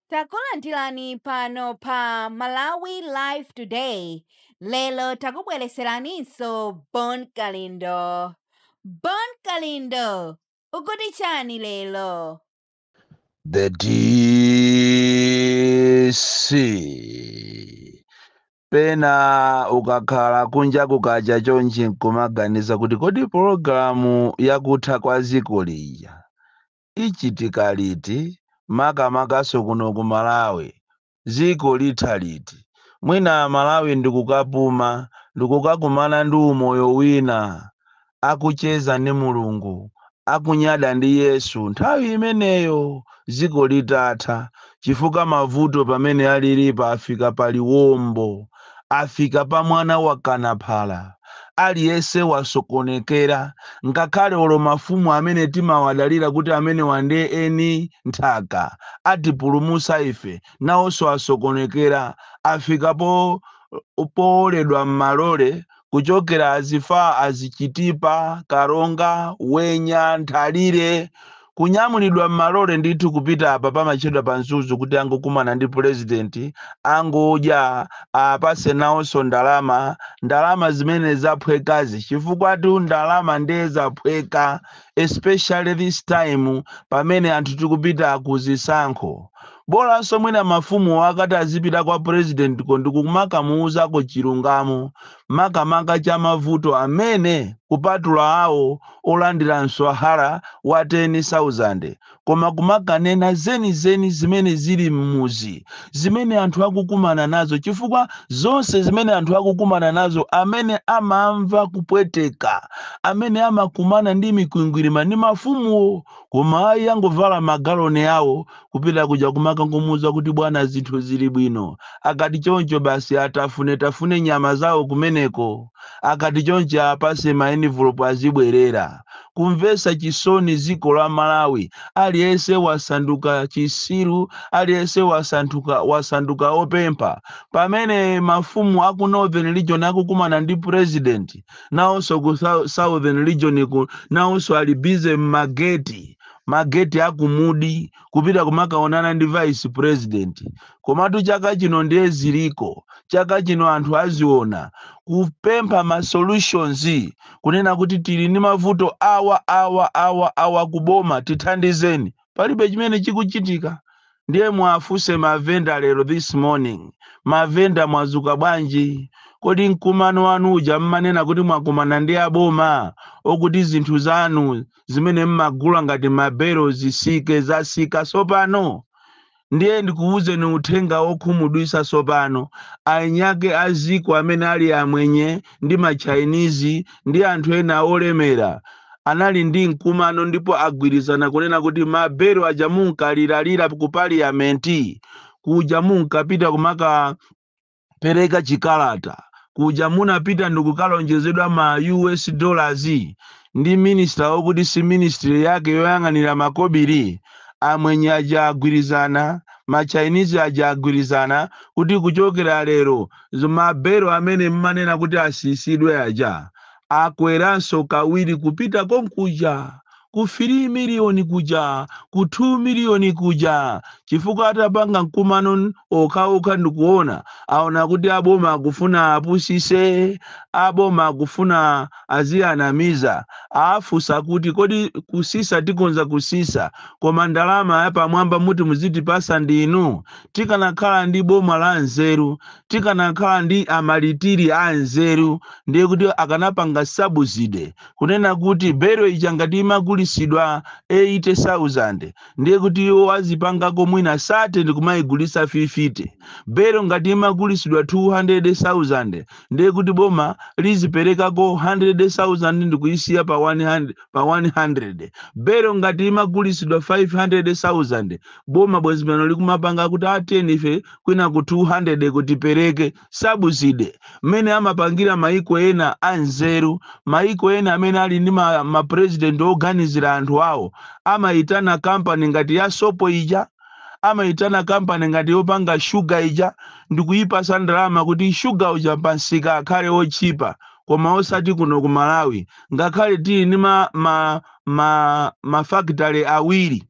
Takulandirani pano pa Malawi Live Today. Lero takubweretseraninso Bon Kalindo. Bon Kalindo, ukuti chani lero? The DC pena ukakhala kunja kukacha chonchi nkumaganiza kuti kodi pologalamu yakutha kwa dziko lija ichitika liti makamakanso kuno ku malawi dziko litha liti mwina amalawi ndikukapuma ndikukakumana ndi umoyo wina akucheza ndi mulungu akunyada ndi yesu nthawi imeneyo ziko litatha chifukwa mavuto pamene alilipo afika paliwombo afika pa mwana wa kanaphala. Aliyense wasokonekera, ngakhale olo mafumu amene timawadalira kuti amenewa nde eni nthaka, atipulumutsa ife, nawonso asokonekera, afika powoledwa m'malole kuchokera azifaa azi chitipa, karonga, wenya, nthalire kunyamulidwa mmalore ndithu kupita apa pamatchedwa kuti pa mzuzu kuti angokumana ndi president angodya apase nawonso ndalama ndalama zimene zaphwekazi chifukwa tu ndalama ndiye zaphweka especially this time pamene anthu tikupita ku zisankho Bolanso mwina mafumuwo akati azipita kwa Purezidentiko ndi kumakamuuzako chilungamo, makamaka cha mavuto amene, kupatula awo olandira mswahara wa teni sauzande, koma kumakanena zenizeni zimene zili m'muzi, zimene anthu akukumana nazo, chifukwa zonse zimene anthu akukumana nazo, amene amamva kupweteka, amene amakumana ndi mikwingwirima ndi mafumuwo, koma ayi angovala magaloni awo, Kupita kuja kumakangomuuza kuti bwana zinthu zili bwino. Akati choncho basi atafunetafune nyama zawo kumeneko. Akati choncho awapase ma enivulopu azibwerera. Kumvetsa chisoni dziko la Malawi. Aliyense wasanduka chitsiru, aliyense wasanduka opempha. Pamene mafumu aku Northern region akukumana ndi President, nawonso ku Southern region nawonso ali busy m'mageti. mageti a ku Mudi kupita kumakaonana ndi vice president komatu chaka chino ndiye ziliko chaka chino anthu aziona kupempha ma solutions kunena kuti tili ndi mavuto awa awa awa awa kuboma tithandizeni palibe chimene chikuchitika Ndiye muwafunse mavenda lero this morning mavenda mwazuka bwanji? Kodi mkumano wanu uja mmanena kuti mwakumana ndi aboma okuti zinthu zanu zimene mmagula ngati ma belo zisike zasika sopano? Ndiye ndikuwuzeni uthenga wokhumudwisa sopano anyake aziko amene ali amwenye ndi machinese ndi anthu ena olemera anali ndi mkumano ndipo agwirizana kunena kuti mabelo aja munkaliralira ku paliyamenti kuja munkapita kumakapereka chikalata kuja munapita ndikukalonjezedwa ma us dollars ndi minister wokuti si ministry yake yoyang'anira makobiri amwenye aja agwirizana machinese aja agwirizana kuti kuchokera lero Zo ma belo amene mmanena kuti asisidwe aja akweranso kawiri kupita konkuja ku 3 million kuja ku 2 million kuja chifukwa atapanga mkumano okhaokha ndikuona aona kuti aboma akufuna apusise aboma akufuna aziyanamiza afusa kuti kodi kusisa tikhoza kusisa koma ndalama yapamwamba muti muzitipasa ndinu tikanakhala ndi boma la nzeru, tikanakhala ndi amalitiri a nzeru, ndiye kuti akanapanga subsidy kunena kuti belo ija ngati imagulisidwa 80,000 ndiye kuti iwo azipangako mwina 30 ndi kumayigulitsa 50 belo ngati imagulisidwa 200,000 ndiye kuti boma liziperekako 100,000 ndi kuyisiya pa 100 belo ngati imagulisidwa 500,000 boma bwezi pano likumapanga kuti ateni ife kwina ku 200 kuti tipereke subsidy mmene amapangira maiko ena anzeru maiko ena amene ali ndi ma, ma president oganizira anthu awo amayitana kampani ngati ya sopo ija amayitana kampani ngati yopanga shuga ija ndikuyipasa ndalama kuti shuga uja pamsika akhale otchipa koma osati kuno ku malawi ngakhale tili ndi ma, ma, ma, mafakitale awiri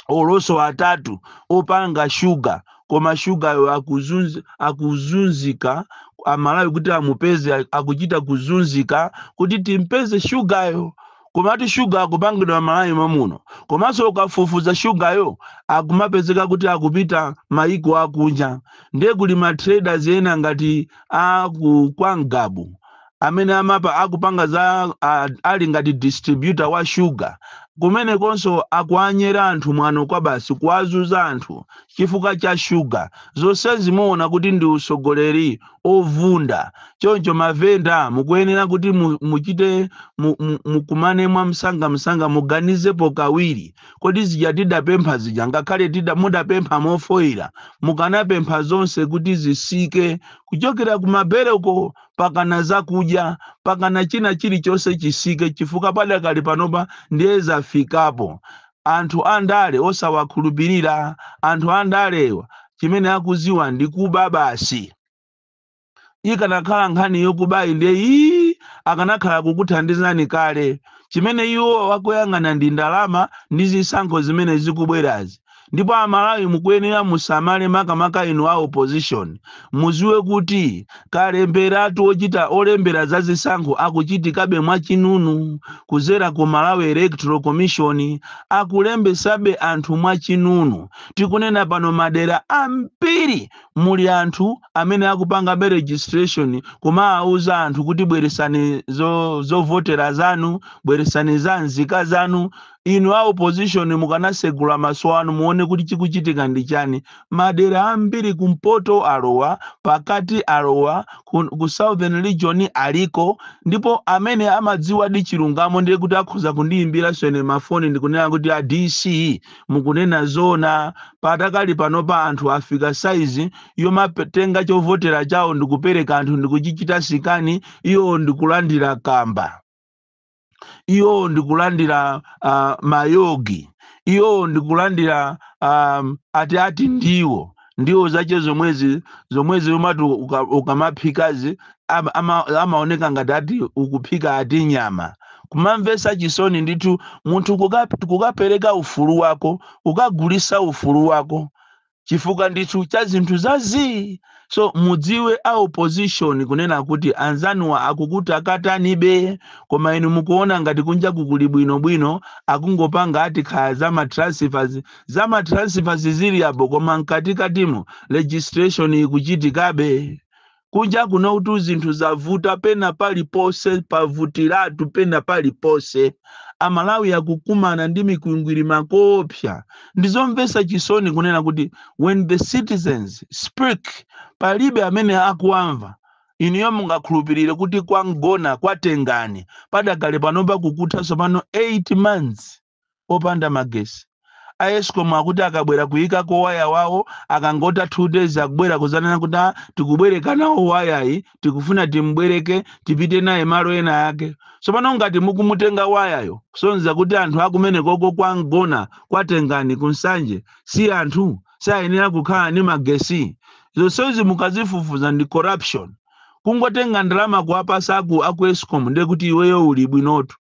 olo nso atatu opanga shuga koma shugayo akuzunz- akuzunzika amalawi kuti amupeze a- akuchita kuzunzika kuti timpeze shugayo komatu shuga akupangidwa malawi momuno komanso ukafufuza shugayo akumapezeka kuti akupita mayiko akunja ndiye kuli ma traders ena ngati aku kwa Ngabu amene amapa akupanga za a, ali ngati distributor wa shuga kumenekonso akuanyera anthu mwano kwa basi kuwazuza anthu chifukwa cha shuga zonsezi muona kuti ndi usogoleri ovunda choncho mavenda mukuyenera kuti mu- muchite mu- mu- mukumane mwa msanga msanga muganizepo kawiri kodi zija tidapempha zija ngakhale tida mudapempha mofoyira mukanapempha zonse kuti zisike kuchokera kumabereko pakana zakudya pakana china chilichonse chisike chifukwa padakali panopa ndiye zafikapo anthu andale osawakhulupirira anthu andalewa chimene akuziwa ndi kuba basi ikanakhala nkhani yokubayi ndiye ii akanakhala kukuthandizani kale chimene iwo akuyang'ana ndi ndalama ndi zisankho zimene zikubwerazi ndipo amalawi mukuyenera musamale makamaka inu a opposition muziwe kuti kalemberatu ochita olembera za zisankho akuchitikabe mwachinunu kuzera ku malawi electoral commission akulembesabe anthu mwachinunu tikunena pano madera ambiri muli anthu amene akupangabe registration kumawauza anthu kuti bweresani zo- zovotera zanu bweresani za nzika zanu Inu a opposition mukanasegula maso anu muone kuti chikuchitika ndi chani. Madera ambiri kumpoto alowa, pakati alowa, ku ku southern region aliko ndipo amene amadziwadi chilungamo ndiye kuti akhoza kundiimbiranso ine ma phone ndikunena kuti a DC mukunena zoona. Padakali panopa anthu afika size yomatenga chovotera chawo ndikupereka anthu ndikuchichita scan iwo ndikulandira kamba. iwo ndi kulandira uh, mayogi iwo ndi kulandira um, ati ati ndiwo ndiwo zache zomwezi zomwezi umati uka- ukamaphikazi ama- ama- amaoneka ngati ati ukuphika ati nyama kumamvesa chisoni ndithu munthu kuka- kukapereka ufulu wako ukagulisa ufulu wako chifukwa ndithu cha zinthu zazii so mudziwe a opposition kunena kuti anzanuwa akukutakatanibe koma inu mukuona ngati kunjaku kuli bwinobwino akungopanga ati kaya za matransfers za matransfers zili apo koma mkatikatimo registration ikuchitikabe kunja kunotu zinthu zavuta pena paliponse pavutiratu pena paliponse amalawi akukumana ndi mikwingwirima koopsa ndizomvetsa chisoni kunena kuti when the citizens speak palibe amene akuwamva inuyo mungakhulupirire kuti kwa mgona kwa tengani padakali panopa kukutha tsopano 8 months opanda magesi. A escom akuti akabwera kuyikako waya wawo akangotha 2 days akubwera kuzanena kuti a tikubwereka nawo wayayi tikufuna tim'bwereke tipite naye malo ena ake. Tsopano ngati mukumutenga wayayo kusonyeza kuti anthu akumenekoko kwa Mgona kwa Tengani ku Nsanje si anthu sayenera kukhala ndi magesi. Zonsezi mukazifufuza ndi corruption. Kungotenga ndalama kuwapasa aku, aku escom ndiye kuti iweyo uli bwinotu.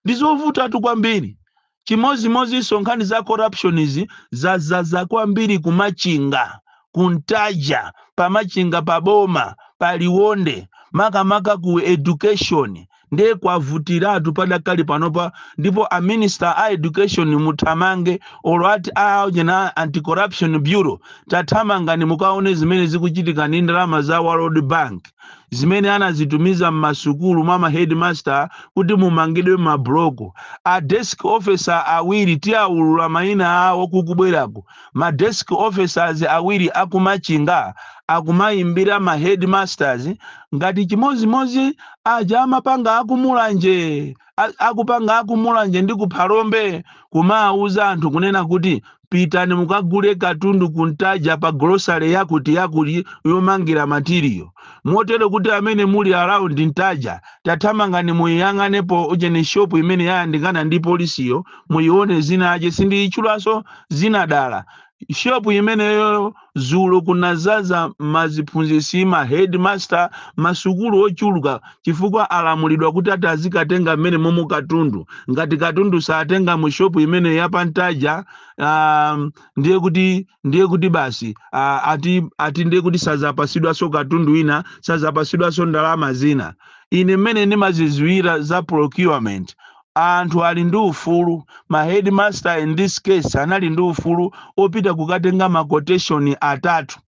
Ndi zovutatu kwambiri. Chimodzimodzinso nkhani za corruption izi zadzaza kwambiri ku Machinga, ku Ntaja, pa Machinga pa boma, pa Liwonde, makamaka ku education ndiye kwavutiratu padakali panopa ndipo a minister a education muthamange olo ati aujeni anti corruption bureau tathamangani mukaone zimene zikuchitika ndi ndalama za World Bank zimene anazitumiza m'masukulu mwa ma headmaster kuti mumangidwe mabuloko a desk officer awiri tiawulula mayina awo kukubwerako ma desk officers awiri akumachinga akumayimbira ma headmasters ngati chimodzimodzi aja amapanga akumulanje akupanga akumulanje ndi ku phalombe kumawuza anthu kunena kuti pitani mukagule katundu kuntaja pa grocery yakuti yakuti yomangira matiriyo motero kuti amene muli around ntaja tathamangani muyiyang'anepo ujeni shop imene yayandikana ndi polisiyo muyione dzina lake sindiyitchulanso dzina dala shop imeneyo dzulo kunadzaza maziphunzitsi ma headmaster masukulu ochuluka chifukwa alamulidwa kuti ati azikatenga m'menemomo katundu ngati katundu satenga mu shop imeneyo ya pa Ntaja um, ndiye kuti ndiye kuti basi uh, ati ati ndiye kuti sazapasidwanso katundu ina sazapasidwanso ndalama zina ine mmene ndimazidziwira za procurement Anthu ali ndi ufulu, ma headmaster in this case anali ndi ufulu opita kukatenga ma quotation atatu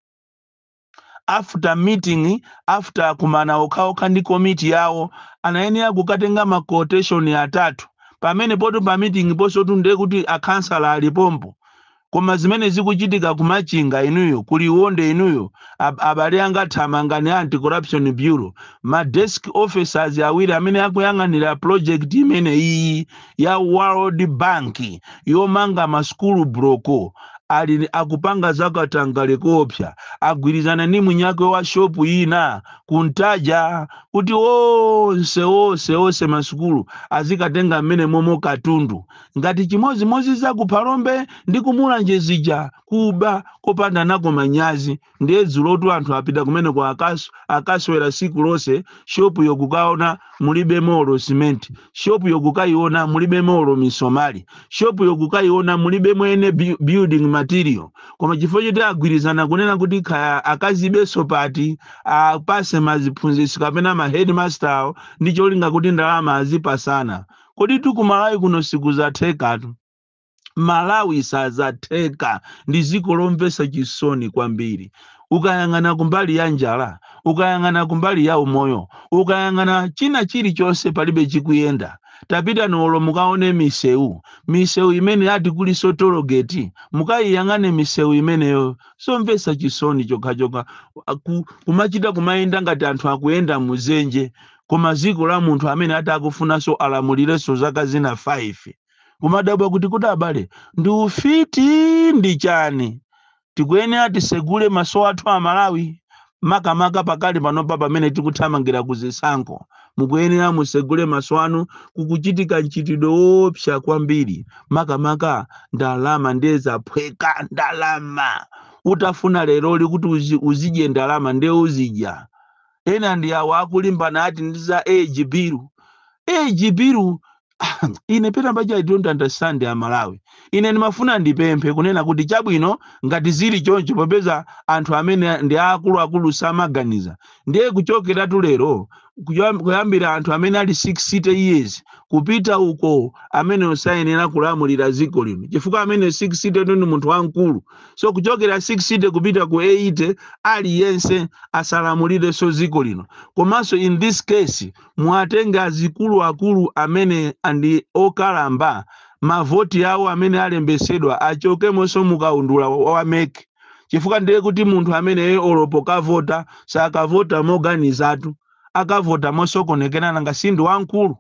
after meeting, after kukumana okhaokha ndi komiti yawo anayenera kukatenga ma quotation atatu pamenepotu pa meeting ponsotu nde kuti akhansala ali pompo koma zimene zikuchitika ku machinga inuyo ku liwonde inuyo ab, abale anga thamangani anti corruption bureau ma desk officers awiri amene akuyang'anira project imene iyi ya world bank yomanga masukulu buloko ali akupanga zakatangale koopsa agwirizana ndi mwiniwake wa shopu ina kuntaja kuti onse onse onse masukulu azikatenga m'menemomo katundu ngati chimodzimodzi za ku Phalombe ndi ku Mulanje zija kuba kopanda nako manyazi ndiye dzuloti anthu apita kumeneko akaswera siku lonse shopu yokukaona mulibe molo simenti shopu yokukayiona mulibe molo misomali shopu yokukayiona mulibe mwene building material koma chifukwa choti agwirizana kunena kuti kaya akazibenso pati apase maziphunzitsi kapena ma headmaster awo ndi cholinga kuti ndalama azipasana koditu kumalawi kuno sikuzathekatu malawi sazatheka ndi ziko lomvesa chisoni kwambiri ukayang'ana kumbali ya njala ukayang'ana kumbali ya umoyo ukayang'ana china chilichonse palibe chikuyenda tapita nolo mukawone misewu misewu imene ati kuliso tologeti mukayiyang'ane misewu imeneyo somvesa chisoni chokhachokha kumachita kumayenda ngati anthu akuyenda muzenje koma ziko la munthu amene ati akufunanso alamulireso zaka zina 5 kumadabwa kuti kuti abale ndi ufiti ndi chani tikuyenera tisegule maso athu amalawi makamaka pakali panopa pamene tikuthamangira ku zisankho mukuyenera musegule maso anu kukuchitika mchitidwe woopsa kwambiri makamaka ndalama ndiye zaphweka ndalama utafuna leroli kuti uzidye ndalama ndiye uzidya ena ndi awa akulimbana ati ndi za age bill age bill ine pena paja i don't understand amalawi ine ndimafuna ndipemphe kunena kuti chabwino ngati zili choncho popeza anthu amene ndi akuluakulu samaganiza ndiye kuchokeratu lero kuyambira anthu amene ali 60 years kupita uko amene osayenera kulamulira dziko lino chifukwa amene 60 ndi munthu wamkulu so kuchokera 60 kupita ku 80 aliyense asalamulirenso dziko lino komanso in this case muwatenge azikuluakulu amene ndi okalamba mavoti awo amene alembetsedwa achokemonso mukaundula wa mec chifukwa ndiye kuti munthu ameneyo olopo kavota sakavota moganizatu akavota mosokonekera nanga si ndi wamkulu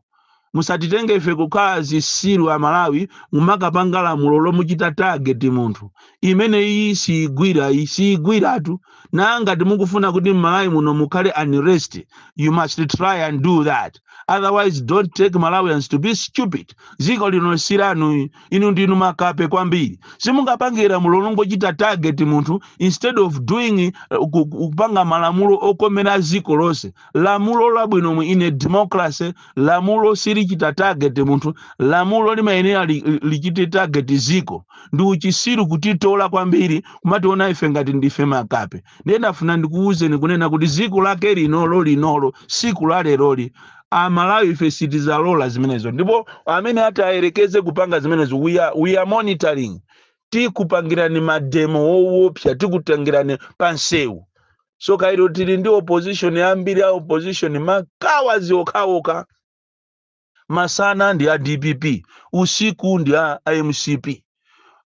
musatitenge ife kukhala zisiru amalawi mumakapanga lamulo lomuchita target munthu imene iyi siyigwira iyi siyigwiratu na ngati mukufuna kuti mmalawi muno mukhale unrest you must try and do that otherwise don't take malawians to be stupid ziko lino silanu inu ndinu makape kwambiri simungapange lamulo longochita target munthu instead of doing kupanga malamulo okomera ziko lonse lamulo labwino in a democracy lamulo silichita target munthu lamulo limayenera li- li- lichite target ziko ndi uchisiru kutitola kwambiri kumationa ife ngati ndife makape ndiye ndafuna ndikuwuzeni kunena kuti ziko lake linolo linolo siku la leroli amalawi ife sitizalola zimenezo ndipo amene ati ayerekeze kupanga zimenezo we are, we are monitoring tikupangirani mademo wowopsa tikutengirani pansewu so kairo tili ndi opposition ambiri a opposition makawadzi okhaokha masana ndi a dpp usiku ndi a a mcp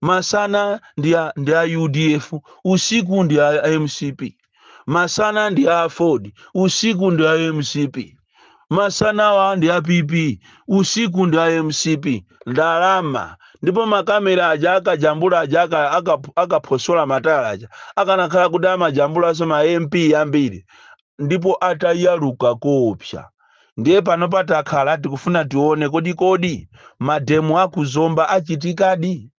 masana ndi a, ndi a udf usiku ndi a, a mcp masana ndi a aford usiku ndi a mcp masanawa ndi a pp usiku ndi a mcp ndalama ndipo makamera aja akajambula aja aka- aka- akaphosola matala aja akanakhala kuti amajambulanso ma mp ambiri ndipo atayaluka koopsa ndiye pano patakhala tikufuna tione kodi kodi mademo aku Zomba achitikadi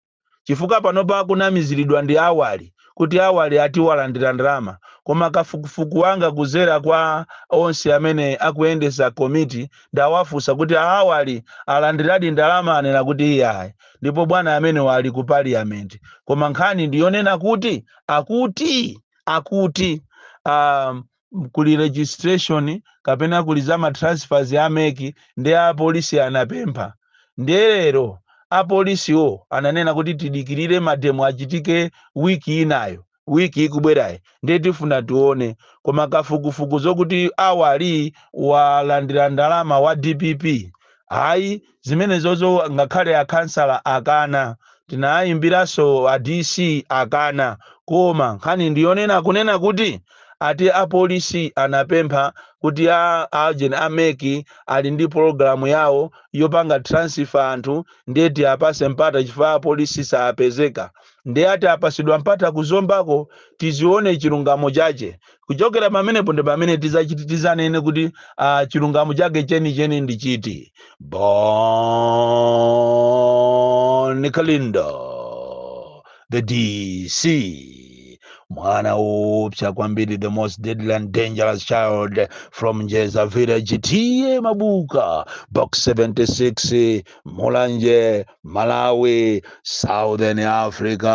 chifukwa panopa akunamiziridwa ndi Awali kuti Awali ati walandira ndalama koma kafukufuku wanga kuzera kwa onse amene akuyendetsa komiti ndawafunsa kuti a Awali alandiradi ndalama anena kuti iyayi ndipo bwana amenewa ali ku parliament koma nkhani ndiyonena kuti akuti akuti um, m- kuli registration kapena kuli za matransfers a mec ndi apolisi anapempha ndiye lero apolisiwo ananena kuti tidikirire mademo achitike wiki inayo wiki ikubwerayi ndiye tifuna tione koma kafukufuku zokuti Awali walandira ndalama wa dpp ayi Zimenezozo ngakhale a khansala akana, tinaayimbiranso a DC akana, koma nkhani ndi yonena kunena kuti ati a polisi anapempha kuti a agent a mec ali ndi pologalamu yawo yopanga transfer anthu ndiye tiapase mpata chifukwa a polisi saapezeka. Ndiye ati apasidwa mpata ku Zombako tizione chilungamo chache. Kuchokera pamenepo ndi pamene tizachiti tizanene kuti uh, chilungamo chake chenicheni ndi chiti. Bon Kalindo, the DC, mwana woopsa kwambiri, the most deadly and dangerous child from Njeza village, TA Mabuka, box 76, Mulanje, Malawi, Southern Africa.